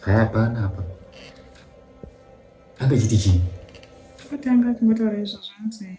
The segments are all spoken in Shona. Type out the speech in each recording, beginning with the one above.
Hapana hapa. Hapa chiti chini? Kutanga kumotora izvo zvanzi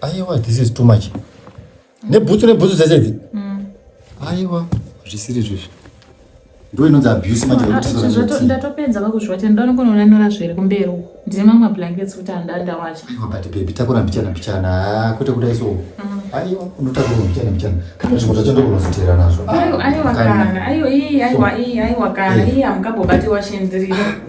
aiwa this is too much nebhutsu nebhutsu dzese idzi mm. aiwa zvisiri zvizvi ndo inonzi abuse manje ndatopedza vakuzviwatira ndoda nokonoona nyora zviri kumberi uku ndine mamwe blankets kuti handandawacha aiwa but bebi takura mbichana mbichana ah, kwete kudai so mm. aiwa unotakura mbichana mbichana kana zvimwe zvacho ndokunozoteera nazvo ah, aiwa kana aiwa ii aiwa ii aiwa kana eh. ii hamukabobati washendirira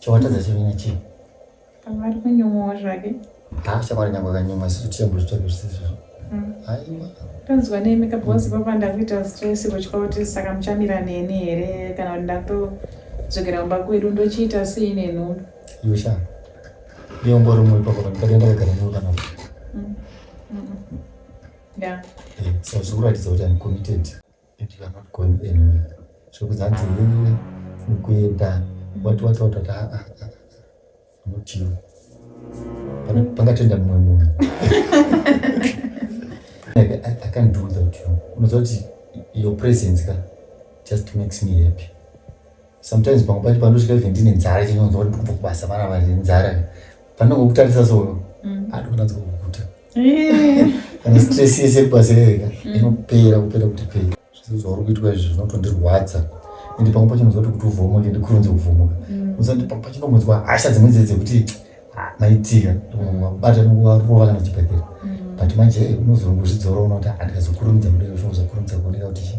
Chawatadza chivina chii? Pamwe ari kunyumwawo zvake. Haa shamwari nyange akanyumwa isu tichembwe zvitoko zvisizvo. Hmm. Aiwa. Tonzwa nemi kabhozi papa ndakuita stress kutya kuti saka muchamira neni here kana kuti ndatodzokera kumba kwedu ndochiita sei nenhumbu. Iwe sha. Iwe ungori umwe ipapo kana ndakadenda kagara newe kana. Hmm. Hmm. Yeah. Eh, so zvikuratidza kuti I'm committed. It you are not going anywhere. Zvekuti hanzi nini kuenda wati wati wati wati ah ah ah. Not you. Pana pangatoenda mumwe munhu. Like I, I can't do without you. Unoziva kuti your presence ka just makes me happy. sometimes pamwe pacho pandosvika even ndine nzara chinonzwa kuti ndikubva kubasa vana vane nzara panongokutarisa so mm. ati kunanzi kukukuta eh. kana stress yese kubasa rega mm. inopera kupera kuti pei zvese zvauri kuitwa izvi zvinotondirwadza ende pamwe pacho nozva kuti kuti uvhomoke ndikurunze kuvhomoka mm. uzati pamwe pacho ndomunzwa hasha dzimwe dze dzekuti ah, maitika bata nokuvarova kana chibhedhera but manje unozorongozvidzora unokuti handikazokurumidza kudai zvinhu zvakurumidza kuoneka kuti chii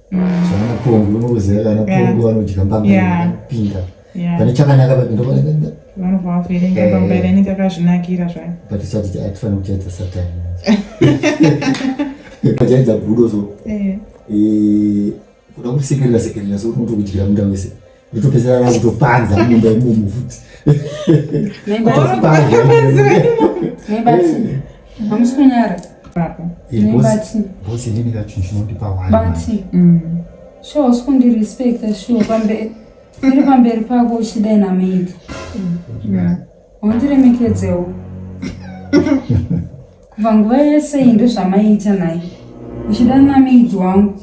zvavanapongi unokuziva vanapongi vanodya mbama pinda pane chakanaka paindovaakazvinakira eh. zvayo but sati atifana kuchaidza satani achaidza budo so eh. eh, kuda kusekerera sekerera so unotokudyira muda wese nditopedzera vangu topanza mumba imomo futi bosi ndini kachu chinondipa wani mm. sure usikundirespecta sure pamberi iri pamberi pako uchidai namaid wandiremekedzewo kubva nguva yese iyi ndozvamaiita naye uchida namaid wangu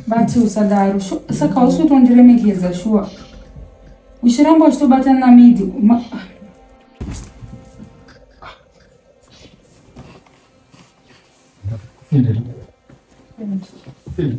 but usadaro saka hausi kutondiremekedza shuwa uchiramba uchitobatana namidi Thank you.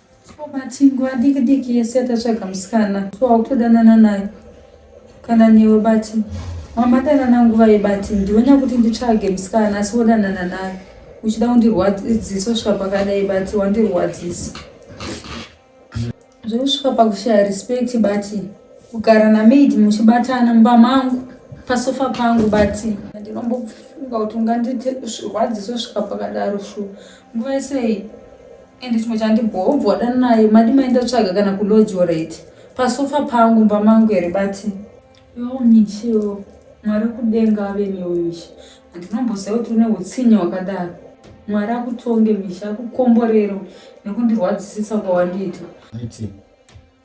Ko matingu adiki diki ese atatsvaga musikana so wakutodanana naye kana newe bati wamadanana nguva yebati ndionya kuti nditsvage musikana asi wodanana naye uchida kundirwadziso svika pakadai bati wandirwadzisa zvekusvika pakushaya respect bati kugara namaid muchibatana mumba mangu pasofa pangu bati ndinombofunga kuti ungandirwadziso svika pakadaro shuwa nguva yesei ende chimwe chandibhowa ubva wadana naye madi maenda tsvaga kana kulodgorate pasofa pangu mba mangu here bati yoo michio mwari kudenga ave newe misha handinomboziva kuti une utsinye wakadaro mwari akutonge misha akukomborero nekundirwadzisisa kwawandiita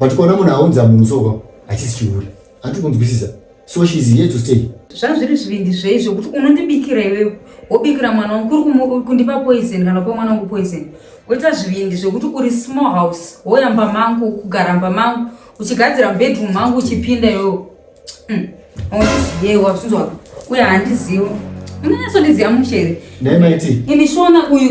but kuona munhu aunza munhu soka hachisi chihure handi kunzwisisa so she is here to stay zvazviri zvivindi zvei zvekuti unondibikira iwewe wobikira mwana wangu kuri kundipa poison kana kupa mwana wangu poison woita zvivindi zvekuti uri small house woyamba mangu kugara mba mangu uchigadzira bedroom mangu uchipinda iwewe hmm. aundizive wazvinzwa uye handizivi unonyatso ndiziva muchere imi shona uyu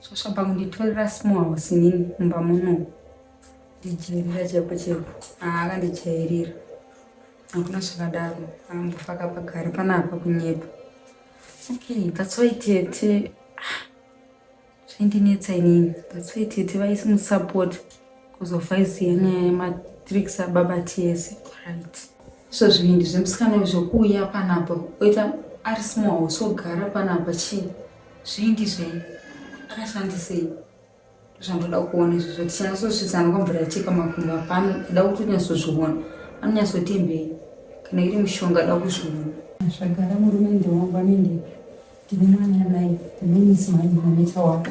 Shasha bhangu nditorera small house nini mumba muno. Ndijairira chaipo chaipo. Ah, akandijairira. Hakuna zvakadaro. Ambofaka pagari panapa kunyepa. Okay, that's why tete ah, zvaindinetsa inini. That's why tete vaisi musupport kuzovhaisi yenyaya yematricks ababa tese. Right. Izvo zvivindi zvemusikana izvo kuuya panapa oita ari small house ogara panapa chii? Zvingi zvenyu. Akashandisei? Zvandoda kuona izvozvo tichinyatsosvitsana kwamvura yacheka makumbo apano kuda kuti unyatsozviona. Anonyatsotimbei? Kana iri mushonga da kuzviona. Zvagara murume ndewangu anenge ndine mwana naye ndinonisi manje mameta wako.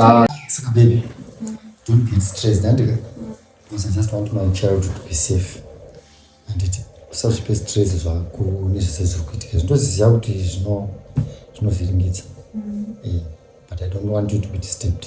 Ah, saka baby don't be stressed andika because i just want my child to be safe anditi usazvipe stress zvako nezvese zviri kuitika zvindoziziva kuti zvinovhiringidza mm. eh, but i don't want you to be disturbed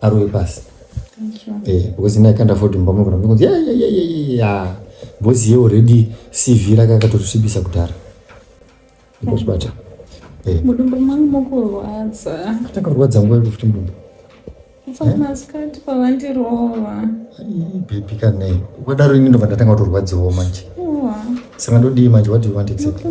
arowe pasi eh, because ini ikanda fod mumba munogona kunzi yayayayaya because ye already cv rake akatosvibisa kudhara ikosbata eh. mudumbu mangu mukurwadza takarwadza nguva yekufuti mudumbu pamasikati eh? pavandirova bebi kanei ukadaro ini ndobva ndatanga kutorwadziwo manje saka ndodii manje what do you want exactly